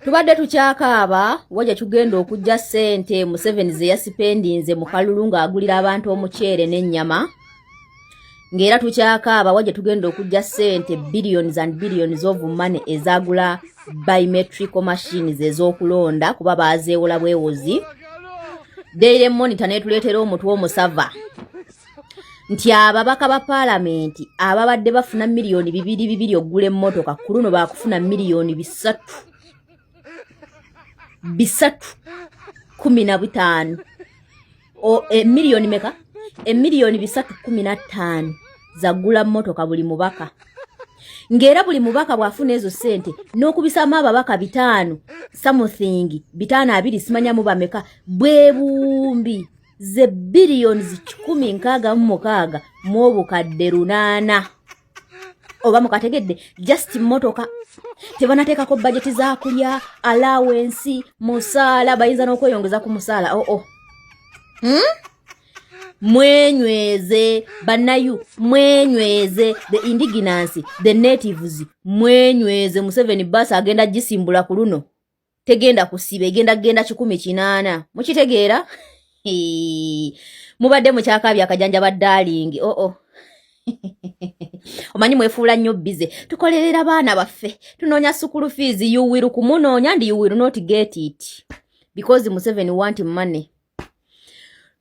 tubadde tukyakaaba wa gye tugenda okujja ssente museveni ze yasipendinze mu kalulu ng'agulira abantu omuceere n'ennyama ng'era tukyakaaba wa gye tugenda okujja ssente billions and billions of money ezagula biometrical machines ez'okulonda kuba baazeewola bwewozi daire monitor neetuleetera omutwe omusava nti ababaka ba paalamenti ababadde bafuna miliyoni bibiri bibiri okugula emmotoka ku luno baakufuna miliyoni bisatu bisatu kumi na butaano emiliyoni eh, meka emiliyoni eh, bisatu kumi na ttaano zagula mmotoka buli mubaka ng'era buli mubaka bw'afuna ezo ssente n'okubisaamu ababaka bitaano samuthingi bitaano abiri simanyamu bameka bwebumbi ze biliyoni kikumi nkaaga mu mukaaga mu obukadde lunaana oba mukategedde just mmotoka tebanateekako bajeti za kulya alawensi musaala bayinza n'okweyongeza ku musaala oo oh, oh. hmm? mwenyweze banayu mwenyweze the indigenancy the natives mwenyweze museveni bus agenda gisimbula ku luno tegenda kusiba egenda kugenda kikumi kinaana mukitegeera mubadde mukyakaabya akajanja ba darling oo oh -oh. omanyi mwefuula nnyo bize tukolerera baana baffe tunoonya sukulu fees yuwiru kumunoonya ndi yuwiru not get it because museveni want money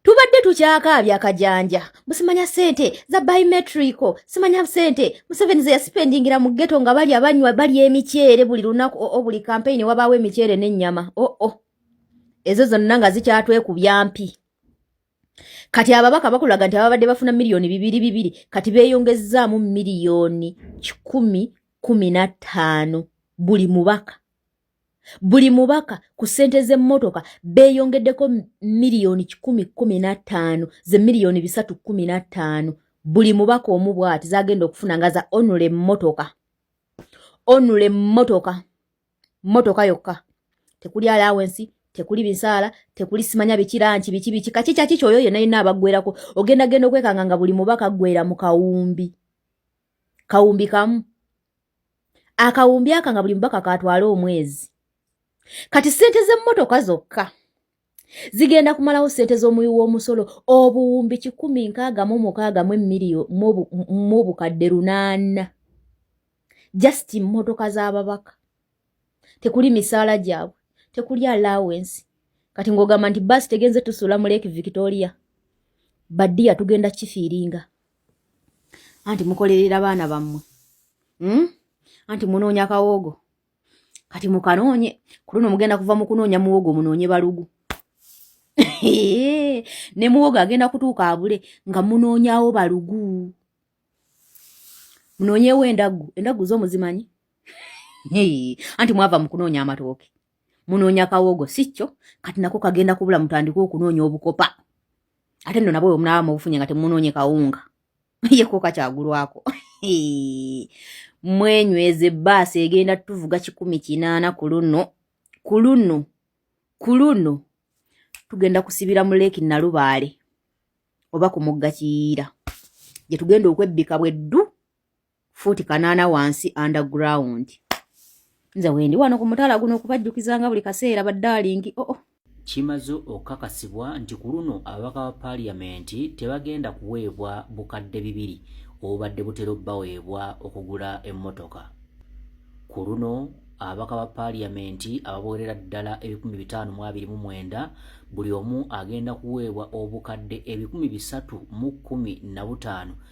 tubadde tukyakaabya akajanja musimanya sente za biometrico simanya sente museveni zeyasipendingira mu geto nga bali abanywa bali emiceere buli lunaku oo oh, oh, buli kampeyini wabaawo emiceere n'ennyama oo oh, ezo zonna nga zikyatwekubya mpi kati ababaka bakulaga nti ababadde bafuna miliyoni bibiri bibiri kati beeyongezzaamu miliyoni kikumi kumi na ttaano buli mubaka buli mubaka ku ssente z'emmotoka beeyongeddeko miliyoni kikumi kkumi na ttaano ze miliyoni bisatu kkumi na ttaano buli mubaka omu bw'ati z'agenda okufuna nga za onula emmotoka onula emmotoka mmotoka yokka tekuli alawensi tekuli bisaala tekuli simanya bikiranki biki biki kaki kyaki kyoyo yena yina abagwerako ogenda genda okwekanga nga buli mubaka gwera mu kawumbi kawumbi kamu akawumbi aka nga buli mubaka katwala omwezi kati sente z'emmotoka zokka zigenda kumalawo sente z'omuwi w'omusolo obuwumbi kikumi nkaaga mu mukaaga mu emiriyo mu obukadde lunaana just mmotoka z'ababaka tekuli misaala gyabwe tekuli alawensi kati ng'ogamba nti baasi tegenze tusuula mu lake victoria badiya tugenda kifiiringa anti mukolerera baana bammwe hmm? anti munoonya kawoogo kati mukanoonye ku luno mugenda kuva mu kunoonya muwogo munoonye balugu ne muwogo agenda kutuuka abule nga munoonyawo balugu munoonyewo endaggu endaggu zo muzimanyi anti mwava mu kunoonya amatooke munoonya kawogo sikyo kati nako kagenda kubula mutandika okunoonya obukopa ate nno nabwe omunaaba mubufunye nga temunoonye kawunga yekoka kyagulwako mwenyweze baasi egenda tuvuga kikumi kinaana ku luno ku luno ku luno tugenda kusibira mu leeki nalubaale oba ku mugga kiyiira gye tugenda okwebbika bweddu fuuti kanaana wansi underground nze wendi wano ku mutala guno okubajjukizanga buli kaseera baddalingi oo oh, oh. kimaze okukakasibwa nti ku luno ababaka ba paaliyamenti tebagenda kuweebwa bukadde bibiri obubadde butera obbaweebwa okugula emmotoka ku luno ababaka ba paaliyamenti ababoolera ddala ebikumi bitaano mu abiri mu mwenda buli omu agenda kuweebwa obukadde ebikumi bisatu mu kkumi na butaano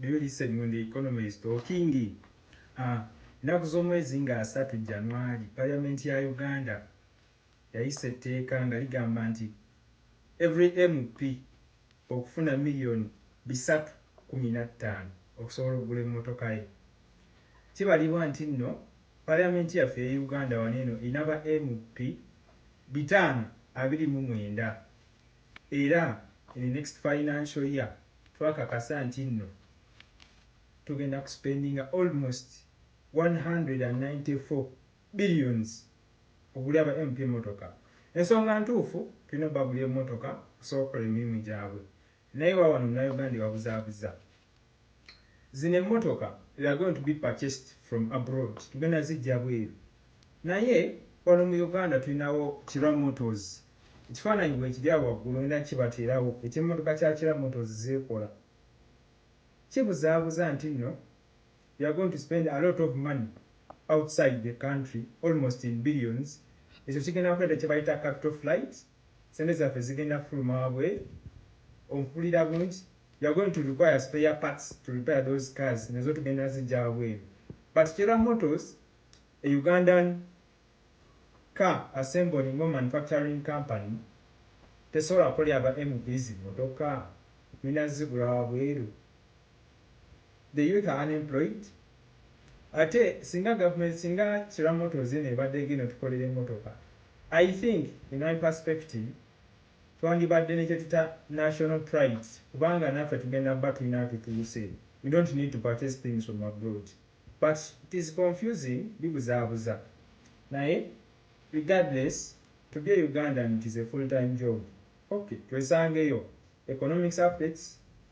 Do you listen when the economy is talking? Haa ennaku z'omwezi nga asatu January parliament ya Uganda yayisa etteeka nga ligamba nti every MP okufuna million bisatu kumi nattaano okusobola okugula emmotoka ye. Kibalibwa nti nno parliament yaffe eye Uganda wano eno erina ba MP bitaano abiri mu mwenda. Era in the next financial year twakakasa nti nno tugenda ku spendinga almost one hundred and ninety four billions okugula aba MP emmotoka. Ensonga ntuufu tulina obagulira emmotoka okusobola okukola emirimu gyabwe naye wawano munauganda ebabuzaabuza. Zino emmotoka we are going to be purchased from abroad tugenda zijja bweru naye wano mu Uganda tulinawo Kira Motors ekifaananyi weekiri awo waggulu ngenda kukibateerawo eky'emmotoka kya Kira Motors z'ekola kibuzaabuza nti nno we are going to spend alot of money outside the country almost in billions ekyo kigenda kuleeta kye bayita capital flight ssente zaffe zigenda kufuluma wabweru ompulira bungi You are going to require spare parts to repair those cars nazo tugenda zijja wabweru but Chela Motors a Ugandan car assembling or manufacturing company tesobola kukolera ba MVs motoka mulina zigula wabweru the youth are unemployed ate singa government singa Chela Motors eno ebadde egenda otukolera emotoka I think in my perspective twandibadde ne kyetuyita national prides kubanga naffe tugenda kuba tulina wetutuuse we don't need to purchase things from abroad but it is confusing bibuzaabuza naye regardless to be a Ugandan it is a full time job ok twesangeyo economics affects